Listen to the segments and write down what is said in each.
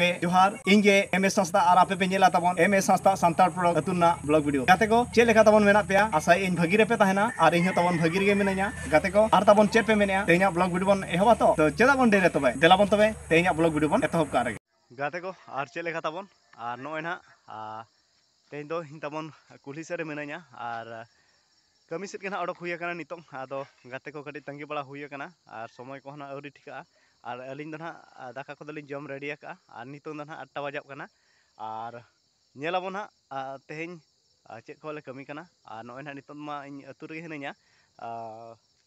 ᱜᱮ ᱡᱚᱦᱟᱨ ᱤᱧ ᱜᱮ ᱮᱢ ᱮᱥ ᱥᱟᱸᱥᱛᱟ ᱟᱨ ᱟᱯᱮ ᱯᱮ ᱧᱮᱞᱟ ᱛᱟᱵᱚᱱ ᱮᱢ ᱮᱥ ᱥᱟᱸᱥᱛᱟ ᱥᱟᱱᱛᱟᱲ ᱯᱨᱚᱰᱟᱠᱴ ᱟᱹᱛᱩ ᱨᱮᱱᱟᱜ ᱵᱞᱚᱜ ᱵᱷᱤᱰᱤᱭᱳ ᱜᱟᱛᱮ ᱠᱚ ᱪᱮᱫ ᱞᱮᱠᱟ ᱛᱟᱵᱚᱱ ᱢᱮᱱᱟᱜ ᱯᱮᱭᱟ ᱟᱥᱟᱭ ᱤᱧ ᱵᱷᱟᱹᱜᱤ ᱨᱮᱯᱮ ᱛᱟᱦᱮᱱᱟ ᱟᱨ ᱤᱧ ᱦᱚᱸ ᱛᱟᱵᱚᱱ ᱵᱷᱟᱹᱜᱤ ᱨᱮᱜᱮ ᱢᱤᱱᱟᱹᱧᱟ ᱜᱟᱛᱮ ᱠᱚ ᱟᱨ ᱛᱟᱵᱚᱱ ᱪᱮᱫ ᱯᱮ ᱢᱮᱱᱮᱜᱼᱟ ᱛᱮᱦᱮᱧᱟᱜ ᱵᱞᱚᱜ ᱵᱷᱤᱰᱤᱭᱳ ᱵᱚᱱ ᱮᱦᱚᱵᱟ ᱛᱚ ᱛᱚ ᱪᱮᱫᱟᱜ ᱵᱚᱱ ᱰᱮᱨᱮ ᱛᱚᱵᱮ ᱫᱮᱞᱟ ᱵᱚᱱ ᱛᱚᱵᱮ ᱛᱮᱦᱮᱧᱟᱜ ᱵᱞᱚᱜ ᱵᱷᱤᱰᱤᱭᱳ ᱵᱚᱱ ᱮᱛᱚᱦᱚᱵ ᱠᱟᱜ ᱨᱮᱜᱮ ᱜᱟᱛᱮ ᱠᱚ ᱟᱨ ᱪᱮᱫ ᱞᱮᱠᱟ ᱛᱟᱵᱚᱱ ᱟᱨ ᱱᱚᱜᱼᱚᱭ ᱱᱟᱦᱟᱜ ᱛᱮᱦᱮᱧ ᱫᱚ ᱤᱧ ᱛᱟᱵᱚᱱ ᱠᱩᱞᱦᱤ ᱥᱮᱫ ᱨᱮ ᱢᱤᱱᱟᱹᱧᱟ ᱟᱨ ᱠᱟᱹᱢᱤ ᱥᱮᱫ ᱜᱮ ᱱᱟᱦᱟᱜ ᱚᱰᱚᱠ ᱦᱩᱭ ᱟᱠᱟᱱᱟ ᱱᱤᱛᱚᱜ ᱟᱫᱚ ᱜᱟᱛᱮ ᱠᱚ ᱠᱟᱹᱴᱤᱡ ᱛᱟᱺᱜᱤ ᱵᱟᱲᱟ ᱦᱩᱭ ᱟᱠᱟᱱᱟ ᱟᱨ ᱥᱚᱢᱚᱭ ᱠᱚᱦᱚᱸ ᱱᱟᱦᱟᱜ ᱟᱹᱣᱨᱤ ᱴᱷᱤᱠᱟᱹᱜᱼᱟ ᱟᱨ ᱟᱹᱞᱤᱧ ᱫᱚ ᱱᱟᱦᱟᱜ ᱫᱟᱠᱟ ᱠᱚᱫᱚ ᱞᱤᱧ ᱡᱚᱢ ᱨᱮᱰᱤ ᱟᱠᱟᱫᱼᱟ ᱟᱨ ᱱᱤᱛᱚᱜ ᱫᱚ ᱱᱟᱦᱟᱜ ᱟᱴᱴᱟ ᱵᱟᱡᱟᱜ ᱠᱟᱱᱟ ᱟᱨ ᱧᱮᱞ ᱟᱵᱚᱱ ᱱᱟᱦᱟᱜ ᱛᱮᱦᱮᱧ ᱪᱮᱫ ᱠᱚᱞᱮ ᱠᱟᱹᱢᱤ ᱠᱟᱱᱟ ᱟᱨ ᱱᱚᱜᱼᱚᱭ ᱱᱟᱦᱟᱜ ᱱᱤᱛᱚᱜ ᱢᱟ ᱤᱧ ᱟᱹᱛᱩ ᱨᱮᱜᱮ ᱦᱤᱱᱟᱹᱧᱟ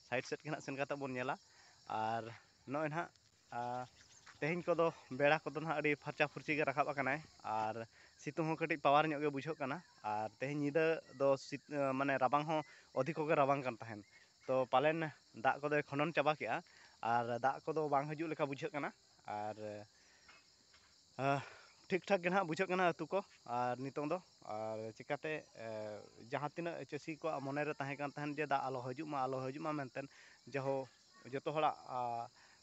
ᱥᱟᱭᱤᱰ ᱥᱮᱫ ᱜᱮ ᱱᱟᱦᱟᱜ ᱥᱮᱱ ᱠᱟᱛᱮᱫ ᱵᱚᱱ ᱧᱮᱞᱟ ᱟᱨ ᱱᱚᱜᱼᱚᱭ ᱱᱟᱦᱟᱜ ᱟᱨ ᱛᱮᱦᱮᱧ ᱠᱚᱫᱚ ᱵᱮᱲᱟ ᱠᱚᱫᱚ ᱱᱟᱦᱟᱜ ᱟᱹᱰᱤ ᱯᱷᱟᱨᱪᱟ ᱯᱷᱩᱨᱪᱤ ᱜᱮ ᱨᱟᱠᱟᱵ ᱟᱠᱟᱱᱟᱭ ᱟᱨ ᱥᱤᱛᱩᱝ ᱦᱚᱸ ᱠᱟᱹᱴᱤᱡ ᱯᱟᱣᱟᱨ ᱧᱚᱜ ᱜᱮ ᱵᱩᱡᱷᱟᱹᱜ ᱠᱟᱱᱟ ᱟᱨ ᱛᱮᱦᱮᱧ ᱧᱤᱫᱟᱹ ᱫᱚ ᱢᱟᱱᱮ ᱨᱟᱵᱟᱝ ᱦᱚᱸ ᱚᱫᱷᱤᱠᱚ ᱜᱮ ᱨᱟᱵᱟᱝ ᱠᱟᱱ ᱛᱟᱦᱮᱱ ᱛᱚ ᱯᱟᱞᱮᱱ ᱫᱟᱜ ᱠᱚᱫᱚᱭ ᱠᱷᱚᱸᱰᱚᱱ ᱪᱟᱵᱟ ᱠᱮᱜᱼᱟ ᱟᱨ ᱫᱟᱜ ᱠᱚᱫᱚ ᱵᱟᱝ ᱦᱤᱡᱩᱜ ᱞᱮᱠᱟ ᱵᱩᱡᱷᱟᱹᱜ ᱠᱟᱱᱟ ᱟᱨ ᱴᱷᱤᱠ ᱴᱷᱟᱠ ᱜᱮ ᱱᱟᱦᱟᱜ ᱵᱩᱡᱷᱟᱹᱜ ᱠᱟᱱᱟ ᱟᱹᱛᱩ ᱠᱚ ᱟᱨ ᱱᱤᱛᱚᱝ ᱫᱚ ᱟᱨ ᱪᱤᱠᱟᱹᱛᱮ ᱡᱟᱦᱟᱸ ᱛᱤᱱᱟᱹᱜ ᱪᱟᱹᱥᱤ ᱠᱚᱣᱟᱜ ᱢᱚᱱᱮ ᱨᱮ ᱛᱟᱦᱮᱸ ᱠᱟᱱ ᱛᱟᱦᱮᱱ ᱡᱮ ᱫᱟᱜ ᱟᱞᱚ ᱦᱤᱡᱩᱜ ᱢᱟ ᱟᱞᱚ ᱦᱤᱡᱩᱜ ᱢᱟ ᱢᱮᱱᱛᱮ ᱡᱟᱦᱳ ᱡᱚᱛᱚ ᱦᱚᱲᱟᱜ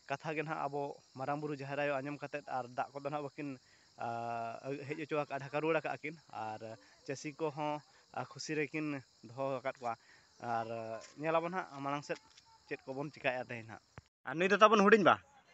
ᱠᱟᱛᱷᱟ ᱜᱮ ᱱᱟᱦᱟᱜ ᱟᱵᱚ ᱢᱟᱨᱟᱝ ᱵᱩᱨᱩ ᱡᱟᱦᱮᱨ ᱟᱭᱳ ᱟᱸᱡᱚᱢ ᱠᱟᱛᱮ ᱟᱨ ᱫᱟᱜ ᱠᱚᱫᱚ ᱱᱟᱦᱟᱜ ᱵᱟᱹᱠᱤᱱ ᱦᱮᱡ ᱚᱪᱚ ᱟᱠᱟᱫᱼᱟ ᱰᱷᱟᱠᱟ ᱨᱩᱣᱟᱹᱲ ᱟᱠᱟᱫᱼᱟ ᱠᱤᱱ ᱟᱨ ᱪᱟᱹᱥᱤ ᱠᱚᱦᱚᱸ ᱠᱷᱩᱥᱤ ᱨᱮᱠᱤᱱ ᱫᱚᱦᱚ ᱟᱠᱟᱫ ᱠᱚᱣᱟ ᱟᱨ ᱧᱮᱞ ᱟᱵᱚᱱ ᱱᱟᱦᱟᱜ ᱢᱟᱲᱟᱝ ᱥᱮᱫ ᱪᱮᱫ ᱠᱚᱵᱚᱱ ᱪᱤᱠᱟᱹᱭᱮᱫᱼᱟ ᱛᱮᱦᱮᱧ ᱱᱟᱦᱟᱜ ᱟᱨ ᱱᱩᱭ ᱫᱚ ᱛᱟᱵᱚᱱ ᱦᱩᱰᱤᱧᱵᱟ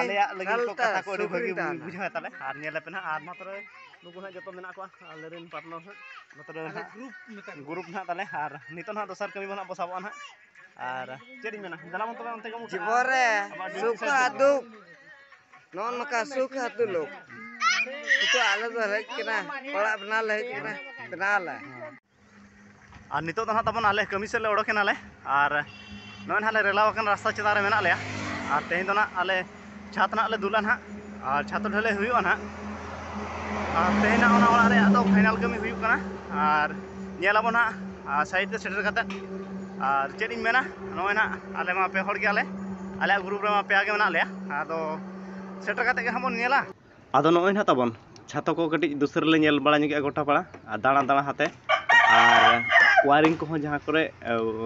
ᱟᱞᱮᱭᱟᱜ ᱞᱟᱹᱜᱤᱫ ᱠᱚ ᱠᱟᱛᱷᱟ ᱠᱚ ᱟᱹᱰᱤ ᱵᱷᱟᱹᱜᱤ ᱵᱩᱡᱷᱟᱹᱣ ᱛᱟᱞᱮ ᱟᱨ ᱧᱮᱞ ᱟᱯᱮ ᱱᱟᱦᱟᱜ ᱟᱨ ᱢᱟ ᱛᱚᱵᱮ ᱱᱩᱠᱩ ᱱᱟᱦᱟᱜ ᱡᱚᱛᱚ ᱢᱮᱱᱟᱜ ᱠᱚᱣᱟ ᱟᱞᱮ ᱨᱮᱱ ᱯᱟᱨᱴᱱᱟᱨ ᱦᱟᱸᱜ ᱱᱚᱛᱮ ᱨᱮ ᱱᱟᱦᱟᱜ ᱜᱨᱩᱯ ᱱᱟᱦᱟᱜ ᱛᱟᱞᱮ ᱟᱨ ᱱᱤᱛᱚᱜ ᱱᱟᱦᱟᱜ ᱫᱚᱥᱟᱨ ᱠᱟᱹᱢᱤ ᱱᱟᱦᱟᱜ ᱵᱚ ᱥᱟᱵᱚᱜᱼᱟ ᱱᱟᱦᱟᱜ ᱟᱨ ᱪᱮᱫ ᱤᱧ ᱢᱮᱱᱟ ᱫᱮᱞᱟ ᱵᱚᱱ ᱛᱚᱵᱮ ᱚᱱᱛᱮ ᱜᱮ ᱡᱤᱵᱚᱱ ᱨᱮ ᱥᱩᱠ ᱟᱨ ᱫᱩᱠ ᱱᱚᱜᱼᱚ ᱱᱚᱝᱠᱟ ᱥᱩᱠ ᱟᱨ ᱫᱩᱞᱩᱠ ᱱᱤᱛᱚᱜ ᱟᱞᱮ ᱫᱚ ᱦᱮᱡ ᱠᱟᱱᱟ ᱚᱲᱟᱜ ᱵᱮᱱᱟᱣ ᱞᱮ ᱦᱮᱡ ᱠᱟᱱᱟ ᱵᱮᱱᱟᱣ ᱟᱞᱮ ᱟᱨ ᱱᱤᱛᱚᱜ ᱫᱚ ᱱᱟᱦᱟᱜ ᱛᱟᱵᱚᱱ ᱟᱞᱮ ᱠᱟᱹᱢᱤ ᱥᱮᱫ ᱞᱮ ᱚᱰᱚᱠ ᱮᱱᱟᱞᱮ ᱟᱨ ᱱᱚᱜᱼᱚᱭ ᱱᱟᱦᱟᱜ ᱞᱮ ᱨᱮᱞᱟᱣ ᱟᱠᱟᱱ ᱨᱟᱥᱛᱟ ᱪᱮᱛᱟᱱ ᱨᱮ ᱢᱮᱱᱟᱜ ᱞᱮᱭᱟ ᱟᱨ ᱛᱮᱦᱮᱧ ᱫᱚ ᱱᱟᱦᱟᱜ ᱟᱞᱮ ᱪᱷᱟᱛ ᱱᱟᱦᱟᱜ ᱞᱮ ᱫᱩᱞᱟ ᱱᱟᱦᱟᱜ ᱟᱨ ᱪᱷᱟᱛ ᱰᱷᱟᱹᱞᱟᱹᱭ ᱦᱩᱭᱩᱜᱼᱟ ᱱᱟᱦᱟᱜ ᱟᱨ ᱛᱮᱦᱮᱧ ᱱᱟᱦᱟᱜ ᱚᱱᱟ ᱚᱲᱟᱜ ᱨᱮᱭᱟᱜ ᱫᱚ ᱯᱷᱟᱭᱱᱟᱞ ᱠᱟᱹᱢᱤ ᱦᱩᱭᱩᱜ ᱠᱟᱱᱟ ᱟᱨ ᱧᱮᱞ ᱟᱵᱚᱱ ᱱᱟᱦᱟᱜ ᱟᱨ ᱥᱟᱭᱤᱰ ᱛᱮ ᱥᱮᱴᱮᱨ ᱠᱟᱛᱮᱫ ᱟᱨ ᱪᱮᱫ ᱤᱧ ᱢᱮᱱᱟ ᱱᱚᱜᱼᱚᱭ ᱱᱟᱦᱟᱜ ᱟᱞᱮ ᱢᱟ ᱯᱮ ᱦᱚᱲ ᱜᱮᱭᱟᱞᱮ ᱟᱞᱮᱭᱟᱜ ᱜᱨᱩᱯ ᱨᱮᱢᱟ ᱯᱮᱭᱟ ᱜᱮ ᱢᱮᱱᱟᱜ ᱞᱮᱭᱟ ᱟᱫᱚ ᱥᱮᱴᱮᱨ ᱠᱟᱛᱮᱫ ᱜᱮ ᱱᱟᱦᱟᱜ ᱵᱚᱱ ᱧᱮᱞᱟ ᱟᱫᱚ ᱱᱚᱜᱼᱚᱭ ᱱᱟᱦᱟᱜ ᱛᱟᱵᱚᱱ ᱪᱷᱟᱛᱚ ᱠᱚ ᱠᱟᱹᱴᱤᱡ ᱫᱩᱥᱨᱟᱹ ᱞᱮ ᱧᱮᱞ ᱵᱟᱲᱟ ᱧᱚᱜᱮᱜᱼᱟ ᱜᱚᱴᱟ ᱯᱟᱲᱟ ᱟᱨ ᱫᱟᱬᱟ ᱫᱟᱬᱟ ᱦᱟᱛᱮ ᱟᱨ ᱚᱣᱟᱨᱤᱝ ᱠᱚᱦᱚᱸ ᱡᱟᱦᱟᱸ ᱠᱚᱨᱮ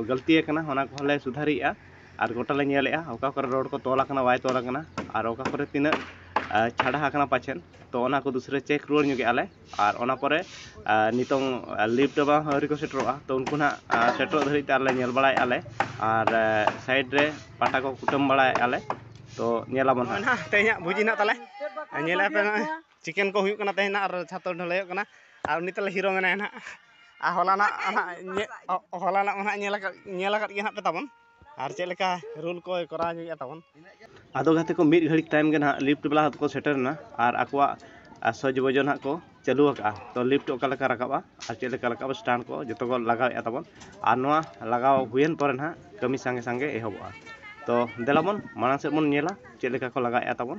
ᱜᱟᱹᱞᱛᱤ ᱟᱠᱟᱱᱟ ᱚᱱᱟ ᱠᱚᱦᱚᱸ ᱞᱮ ᱥᱩᱫᱷᱟᱹᱨᱮᱜᱼᱟ ᱟᱨ ᱜᱚᱴᱟ ᱞᱮ ᱧᱮᱞᱮᱜᱼᱟ ᱚᱠᱟ ᱠᱚᱨᱮ ᱨᱚᱰ ᱠᱚ ᱛᱚᱞ ᱟᱠᱟᱱᱟ ᱵᱟᱭ ᱛᱚᱞ ᱟᱠᱟᱱᱟ ᱟᱨ ᱚᱠᱟ ᱠᱚᱨᱮ ᱛᱤᱱᱟᱹᱜ ᱪᱷᱟᱰᱟ ᱟᱠᱟᱱᱟ ᱯᱟᱪᱮᱫ ᱛᱚ ᱚᱱᱟ ᱠᱚ ᱫᱩᱥᱨᱟᱹ ᱪᱮᱠ ᱨᱩᱣᱟᱹᱲ ᱧᱚᱜᱮᱜᱼᱟ ᱞᱮ ᱟᱨ ᱚᱱᱟ ᱯᱚᱨᱮ ᱱᱤᱛᱚᱝ ᱞᱤᱯᱷᱴ ᱵᱟᱞᱟ ᱦᱚᱸ ᱟᱹᱣᱨᱤ ᱠᱚ ᱥᱮᱴᱮᱨᱚᱜᱼᱟ ᱛᱚ ᱩᱱᱠᱩ ᱱᱟᱜ ᱥᱮᱴᱮᱨᱚᱜ ᱫᱷᱟᱹᱵᱤᱡ ᱛᱮ ᱟᱞᱮ ᱧᱮᱞ ᱵᱟᱲᱟᱭᱮᱫᱼᱟ ᱞᱮ ᱟᱨ ᱥᱟᱭᱤᱰ ᱨᱮ ᱯᱟᱴᱟ ᱠᱚ ᱠᱩᱴᱟᱹᱢ ᱵᱟᱲᱟᱭᱮᱫᱼᱟ ᱞᱮ ᱛᱚ ᱧᱮᱞ ᱟᱵᱚᱱ ᱦᱟᱸᱜ ᱱᱚᱜᱼᱚᱭ ᱱᱟᱜ ᱛᱮᱦᱮᱧᱟᱜ ᱵᱷᱩᱡᱤ ᱱᱟᱜ ᱛᱟᱞᱮ ᱟᱨ ᱧᱮᱞᱮᱫᱼᱟ ᱯᱮ ᱱᱚᱜᱼᱚᱭ ᱪᱤᱠᱮᱱ ᱠᱚ ᱦᱩᱭᱩᱜ ᱠᱟᱱᱟ ᱛᱮᱦᱮᱧ ᱱᱟᱜ ᱟᱨ ᱪᱷᱟᱛ ᱦᱚᱸ ᱰᱷᱟᱹᱞᱟᱹᱭᱚᱜ ᱠᱟᱱᱟ ᱟᱨ ᱩᱱᱤ ᱛᱟᱞᱮ ᱦᱤᱨᱳ ᱢᱮᱱᱟᱭᱟ ᱱᱟᱜ ᱟᱨ ᱦᱚᱞᱟᱱᱟᱜ ᱦᱟᱸᱜ ᱦᱚᱞᱟᱱᱟᱜ ᱢᱟ ᱱᱟᱜ ᱧᱮᱞ ᱟᱠᱟᱫ ᱧᱮᱞ ᱟᱠᱟᱫ ᱜᱮᱭᱟ ᱯᱮ ᱛᱟᱵᱚᱱ ᱟᱨ ᱪᱮᱫ ᱞᱮᱠᱟ ᱨᱩᱞ ᱠᱚ ᱠᱚᱨᱟᱣ ᱧᱚᱜᱮᱜᱼᱟ ᱛᱟᱵᱚᱱ ᱟᱫᱚ ᱜᱟᱛᱮ ᱠᱚ ᱢᱤᱫ ᱜᱷᱟᱹᱲᱤᱡ ᱛᱟᱭᱚᱢ ᱜᱮ ᱱᱟᱦᱟᱜ ᱞᱤᱯᱷᱴ ᱵᱟᱞᱟ ᱦᱚᱸᱠᱚ ᱥᱮᱴᱮᱨᱮᱱᱟ ᱟᱨ ᱟᱠᱚᱣᱟᱜ ᱥᱚᱡᱽ ᱵᱚᱡᱽ ᱱᱟᱦᱟᱜ ᱠᱚ ᱪᱟᱹᱞᱩ ᱟᱠᱟᱫᱼᱟ ᱛᱚ ᱞᱤᱯᱷᱴ ᱚᱠᱟ ᱞᱮᱠᱟ ᱨᱟᱠᱟᱵᱼᱟ ᱟᱨ ᱪᱮᱫ ᱞᱮᱠᱟ ᱨᱟᱠᱟᱵᱼᱟ ᱥᱴᱟᱱᱴ ᱠᱚ ᱡᱚᱛᱚ ᱠᱚ ᱞᱟᱜᱟᱣᱮᱜᱼᱟ ᱛᱟᱵᱚᱱ ᱟᱨ ᱱᱚᱣᱟ ᱞᱟᱜᱟᱣ ᱦᱩᱭᱮᱱ ᱯᱚᱨᱮ ᱱᱟᱦᱟᱜ ᱠᱟᱹᱢᱤ ᱥᱟᱸᱜᱮ ᱥᱟᱸᱜᱮ ᱮᱦᱚᱵᱚᱜᱼᱟ ᱛᱚ ᱫᱮᱞᱟ ᱵᱚᱱ ᱢᱟᱲᱟᱝ ᱥᱮᱫ ᱵᱚᱱ ᱧᱮᱞᱟ ᱪᱮᱫ ᱞᱮᱠᱟ ᱠᱚ ᱞᱟᱜᱟᱣᱮᱜᱼᱟ ᱛᱟᱵᱚᱱ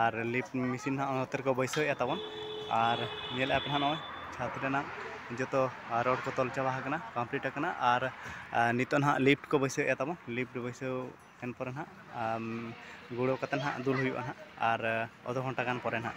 ᱟᱨ ᱞᱤᱯᱷᱴ ᱢᱮᱥᱤᱱ ᱦᱟᱸᱜ ᱱᱚᱛᱮ ᱨᱮᱠᱚ ᱵᱟᱹᱭᱥᱟᱹᱣᱮᱫᱼᱟ ᱛᱟᱵᱚᱱ ᱟᱨ ᱧᱮᱞᱮᱫᱼᱟ ᱯᱮ ᱦᱟᱸᱜ ᱱᱚᱜᱼᱚᱭ ᱪᱷᱟᱛ ᱨᱮᱱᱟᱜ ᱡᱚᱛᱚ ᱨᱚᱰ ᱠᱚ ᱛᱚᱞ ᱪᱟᱵᱟ ᱟᱠᱟᱱᱟ ᱠᱚᱢᱯᱞᱤᱴ ᱟᱠᱟᱱᱟ ᱟᱨ ᱱᱤᱛᱚᱜ ᱦᱟᱸᱜ ᱞᱤᱯᱷᱴ ᱠᱚ ᱵᱟᱹᱭᱥᱟᱹᱣᱮᱫᱼᱟ ᱛᱟᱵᱚᱱ ᱞᱤᱯᱷᱴ ᱵᱟᱹᱭᱥᱟᱹᱣ ᱮᱱ ᱯᱚᱨᱮ ᱦᱟᱸᱜ ᱜᱩᱲᱟᱹᱣ ᱠᱟᱛᱮᱫ ᱦᱟᱸᱜ ᱫᱩᱞ ᱦᱩᱭᱩᱜᱼᱟ ᱦᱟᱸᱜ ᱟᱨ ᱟᱫᱷᱚ ᱜᱷᱚᱱᱴᱟ ᱜᱟᱱ ᱯᱚᱨᱮ ᱦᱟᱸᱜ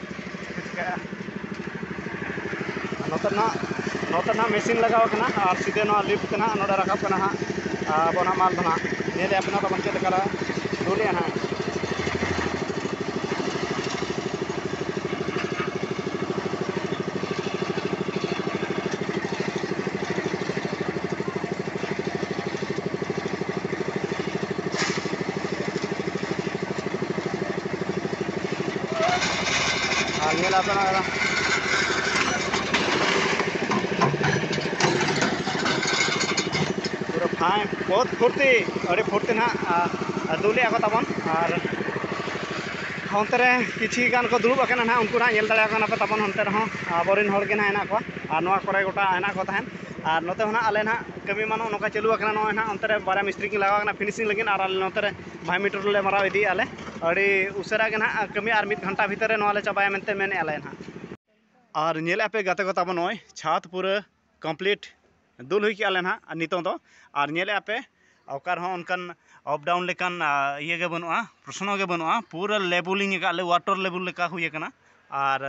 ᱪᱮᱫ ᱠᱚ ᱪᱤᱠᱟᱹᱜᱼᱟ ᱟᱨ ᱱᱚᱛᱮ ᱱᱟᱜ ᱱᱚᱛᱮ ᱱᱟᱜ ᱢᱮᱥᱤᱱ ᱞᱟᱜᱟᱣ ᱠᱟᱱᱟ ᱟᱨ ᱥᱤᱫᱷᱟᱹ ᱱᱚᱣᱟ ᱞᱤᱯᱷᱴ ᱛᱮ ᱱᱟᱜ ᱱᱚᱸᱰᱮ ᱨᱟᱠᱟᱵ ᱠᱟᱱᱟ ᱦᱟᱸᱜ ᱟᱵᱚ ᱱᱟᱜ ᱢᱟᱞ ᱫᱚ ᱱᱟᱜ ᱧᱮᱞᱮᱫ ᱟᱵᱚᱱ ᱱᱟᱜ ᱛᱟᱵᱚᱱ ᱪᱮᱫ ᱞᱮᱠᱟ ᱞᱮ ᱫᱩᱞᱮᱜᱼᱟ ᱱᱟᱜ ᱟᱨ ᱧᱮᱞ ᱟᱯᱮ ᱱᱚᱜᱼᱚᱭ ᱱᱟ ᱯᱩᱨᱟᱹ ᱯᱷᱟᱭᱤᱱ ᱵᱚᱦᱩᱛ ᱯᱷᱩᱨᱛᱤ ᱟᱹᱰᱤ ᱯᱷᱩᱨᱛᱤ ᱱᱟᱦᱟᱜ ᱟᱹᱫᱩ ᱞᱮᱫᱼᱟ ᱠᱚ ᱛᱟᱵᱚᱱ ᱟᱨ ᱚᱱᱛᱮ ᱨᱮ ᱠᱤᱪᱷᱤ ᱜᱟᱱ ᱠᱚ ᱫᱩᱲᱩᱵ ᱟᱠᱟᱱᱟ ᱱᱟᱦᱟᱜ ᱩᱱᱠᱩ ᱱᱟᱦᱟᱜ ᱧᱮᱞ ᱫᱟᱲᱮᱭᱟᱠᱚ ᱠᱟᱱᱟ ᱯᱮ ᱛᱟᱵᱚᱱ ᱚᱱᱛᱮ ᱨᱮᱦᱚᱸ ᱟᱵᱚᱨᱮᱱ ᱦᱚᱲ ᱜᱮ ᱱᱟᱦᱟᱜ ᱦᱮᱱᱟᱜ ᱠᱚᱣᱟ ᱟᱨ ᱱᱚᱣᱟ ᱠᱚᱨᱮ ᱜᱚᱴᱟ ᱦᱮᱱᱟᱜ ᱠᱚ ᱛᱟᱦᱮᱸᱫ ᱟᱨ ᱱᱚᱛᱮ ᱦᱚᱸ ᱱᱟᱦᱟᱜ ᱟᱞᱮ ᱱᱟᱦᱟᱜ ᱠᱟᱹᱢᱤ ᱢᱟ ᱱᱚᱜᱼᱚ ᱱᱚᱝᱠᱟ ᱪᱟᱹᱞᱩ ᱟᱠᱟᱱᱟ ᱱᱚᱜᱼᱚᱭ ᱱᱟᱦᱟᱜ ᱚᱱᱛᱮ ᱨᱮ ᱵᱟᱨᱭᱟ ᱢᱤᱥᱛᱨᱤ ᱠᱤᱱ ᱞᱟᱜᱟᱣ ᱟᱠᱟᱱᱟ ᱯᱷᱤᱱᱤᱥᱤᱝ ᱞᱟᱹᱜᱤᱫ ᱟᱨ ᱟᱞᱮ ᱱᱚᱛᱮ ᱨᱮ ᱵᱷᱟᱭ ᱢᱤᱴᱚᱨ ᱞᱮ ᱢᱟᱨᱟᱣ ᱤᱫᱤᱭᱮᱫᱼᱟ ᱞᱮ ᱟᱹᱰᱤ ᱩᱥᱟᱹᱨᱟ ᱜᱮ ᱱᱟᱦᱟᱜ ᱠᱟᱹᱢᱤ ᱟᱨ ᱢᱤᱫ ᱜᱷᱚᱱᱴᱟ ᱵᱷᱤᱛᱤᱨ ᱨᱮ ᱱᱚᱣᱟ ᱞᱮ ᱪᱟᱵᱟᱭᱟ ᱢᱮᱱᱛᱮ ᱢᱮᱱᱮᱫᱼᱟ ᱞᱮ ᱱᱟᱦᱟᱜ ᱟᱨ ᱧᱮᱞᱮᱫᱼᱟ ᱯᱮ ᱜᱟᱛᱮ ᱠᱚ ᱛᱟᱵᱚ ᱱᱚᱜᱼᱚᱭ ᱪᱷᱟᱫᱽ ᱯᱩᱨᱟᱹ ᱠᱚᱢᱯᱞᱤᱴ ᱫᱩᱞ ᱦᱩᱭ ᱠᱮᱫᱼᱟ ᱞᱮ ᱱᱟᱦᱟᱜ ᱟᱨ ᱱᱤᱛᱚᱝ ᱫᱚ ᱟᱨ ᱧᱮᱞᱮᱫᱼᱟ ᱯᱮ ᱚᱠᱟ ᱨᱮᱦᱚᱸ ᱚᱱᱠᱟᱱ ᱟᱯ ᱰᱟᱣᱩᱱ ᱞᱮᱠᱟᱱ ᱤᱭᱟᱹ ᱜᱮ ᱵᱟᱹᱱᱩᱜᱼᱟ ᱯᱨᱚᱥᱱᱚ ᱜᱮ ᱵᱟᱹᱱᱩᱜᱼᱟ ᱯᱩᱨᱟᱹ ᱞᱮᱵᱮᱞᱤᱝ ᱟᱠᱟᱫ ᱞᱮ ᱚᱣᱟᱴᱟᱨ ᱞᱮᱵᱮᱞ ᱞᱮᱠᱟ ᱦᱩᱭ ᱟᱠᱟᱱᱟ ᱟᱨ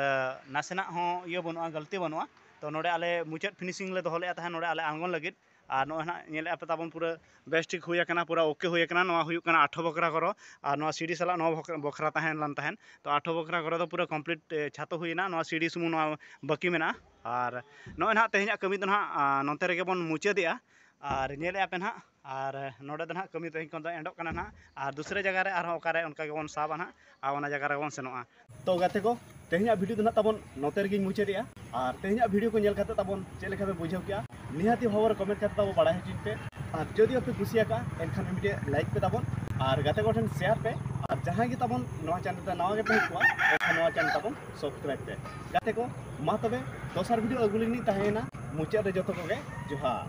ᱱᱟᱥᱮᱱᱟᱜ ᱦᱚᱸ ᱤᱭᱟᱹ ᱵᱟᱹᱱᱩᱜᱼᱟ ᱜᱟᱹᱞᱛᱤ ᱵᱟᱹᱱᱩᱜᱼᱟ ᱛᱳ ᱱᱚᱰᱮ ᱟᱞᱮ ᱢᱩᱪᱟᱹᱫ ᱯᱷᱤᱱᱤᱥᱤᱝ ᱞᱮ ᱫᱚᱦᱚ ᱞᱮᱫᱼᱟ ᱛᱟᱦᱮᱸᱫ ᱱᱚᱰᱮ ᱟᱞᱮ ᱟᱬᱜᱚᱱ ᱞᱟᱹᱜᱤᱫ ᱟᱨ ᱱᱚᱜᱼᱚᱭ ᱱᱟᱜ ᱧᱮᱞᱮᱫ ᱟᱯᱮ ᱛᱟᱵᱚᱱ ᱯᱩᱨᱟᱹ ᱵᱮᱥ ᱴᱷᱤᱠ ᱦᱩᱭ ᱟᱠᱟᱱᱟ ᱯᱩᱨᱟᱹ ᱳᱠᱮ ᱦᱩᱭ ᱟᱠᱟᱱᱟ ᱱᱚᱣᱟ ᱦᱩᱭᱩᱜ ᱠᱟᱱᱟ ᱟᱴᱷᱚ ᱵᱚᱠᱷᱨᱟ ᱜᱷᱚᱨᱚ ᱟᱨ ᱱᱚᱣᱟ ᱥᱤᱲᱤ ᱥᱟᱞᱟᱜ ᱱᱚᱣᱟ ᱵᱚᱠᱷᱨᱟ ᱛᱟᱦᱮᱸ ᱞᱮᱱ ᱛᱟᱦᱮᱸᱫ ᱛᱚ ᱟᱴᱷᱚ ᱵᱚᱠᱷᱨᱟ ᱜᱷᱚᱨᱚ ᱫᱚ ᱯᱩᱨᱟᱹ ᱠᱚᱢᱯᱞᱤᱴ ᱪᱷᱟᱛᱚ ᱦᱩᱭᱱᱟ ᱱᱚᱣᱟ ᱥᱤᱲᱤ ᱥᱩᱢᱩᱝ ᱱᱚᱣᱟ ᱵᱟᱹᱠᱤ ᱢᱮᱱᱟᱜᱼᱟ ᱟᱨ ᱱᱚᱜᱼᱚᱭ ᱱᱟᱜ ᱛᱮᱦᱮᱧᱟᱜ ᱠᱟᱹᱢᱤ ᱫᱚ ᱱᱟᱜ ᱱᱚᱛᱮ ᱨᱮᱜᱮ ᱵᱚᱱ ᱢᱩᱪᱟᱹᱫᱮᱜᱼᱟ ᱟᱨ ᱧᱮᱞᱮᱫ ᱟᱯᱮ ᱱᱟᱜ ᱟᱨ ᱱᱚᱰᱮ ᱫᱚ ᱱᱟᱜ ᱠᱟᱹᱢᱤ ᱛᱮᱦᱮᱧ ᱠᱷᱚᱱ ᱫᱚ ᱮᱱᱰᱚᱜ ᱠᱟᱱᱟ ᱱᱟᱜ ᱟᱨ ᱫᱩᱥᱨᱟᱹ ᱡᱟᱭᱜᱟ ᱨᱮ ᱟᱨᱦᱚᱸ ᱚᱠᱟᱨᱮ ᱚᱱᱠᱟ ᱜᱮᱵᱚᱱ ᱥᱟᱵᱟ ᱱᱟᱜ ᱟᱨ ᱚᱱᱟ ᱡᱟᱭᱜᱟ ᱨᱮᱵᱚᱱ ᱥᱮᱱᱚᱜᱼᱟ ᱛᱚ ᱜᱟᱛᱮ ᱠᱚ ᱛᱮᱦᱮᱧᱟᱜ ᱵᱷᱤᱰᱤᱭᱳ ᱫᱚ ᱱᱟᱜ ᱛᱟᱵᱚᱱ ᱱᱚᱛᱮ ᱨᱮᱜᱮᱧ ᱢᱩᱪᱟᱹᱫᱮᱜᱼᱟ ᱟᱨ ᱛᱮᱦᱮᱧᱟᱜ ᱵᱷᱤᱰᱤᱭᱳ ᱠᱚ ᱧᱮᱞ ᱠᱟᱛᱮ ᱛᱟᱵᱚᱱ ᱪᱮᱫ ᱞᱮᱠᱟ ᱯᱮ ᱵᱩᱡᱷᱟᱹᱣ ᱠᱮᱜᱼᱟ ᱱᱤᱦᱟᱹᱛᱤ ᱦᱚᱵᱚᱨ ᱠᱚᱢᱮᱱᱴ ᱠᱟᱛᱮ ᱛᱟᱵᱚ ᱵᱟᱲᱟᱭ ᱦᱚᱪᱚᱧ ᱯᱮ ᱟᱨ ᱡᱩᱫᱤ ᱟᱯᱮ ᱠᱩᱥᱤᱭᱟᱠᱟᱜᱼᱟ ᱮᱱᱠᱷᱟᱱ ᱢᱤᱫᱴᱮᱡ ᱞᱟᱭᱤᱠ ᱯᱮ ᱛᱟᱵᱚᱱ ᱟᱨ ᱜᱟᱛᱮ ᱠᱚᱴᱷᱮᱱ ᱥᱮᱭᱟᱨ ᱯᱮ ᱟᱨ ᱡᱟᱦᱟᱸᱭ ᱜᱮ ᱛᱟᱵᱚᱱ ᱱᱚᱣᱟ ᱪᱮᱱᱮᱞ ᱨᱮ ᱱᱟᱣᱟ ᱜᱮᱯᱮ ᱦᱮᱡ ᱠᱚᱜᱼᱟ ᱮᱱᱠᱷᱟᱱ ᱱᱚᱣᱟ ᱪᱮᱱᱮᱞ ᱛᱟᱵᱚᱱ ᱥᱟᱵᱥᱠᱨᱟᱭᱤᱵ ᱯᱮ ᱜᱟᱛᱮ ᱠᱚ ᱢᱟ ᱛᱚᱵᱮ ᱫᱚᱥᱟᱨ ᱵᱷᱤᱰᱤᱭᱳ ᱟᱹᱜᱩ ᱞᱤᱧ ᱛᱟᱦᱮᱸᱭᱮᱱᱟ ᱢᱩᱪᱟᱹᱫ ᱨᱮ ᱡᱚᱛᱚ ᱠᱚᱜᱮ ᱡᱚᱦᱟᱨ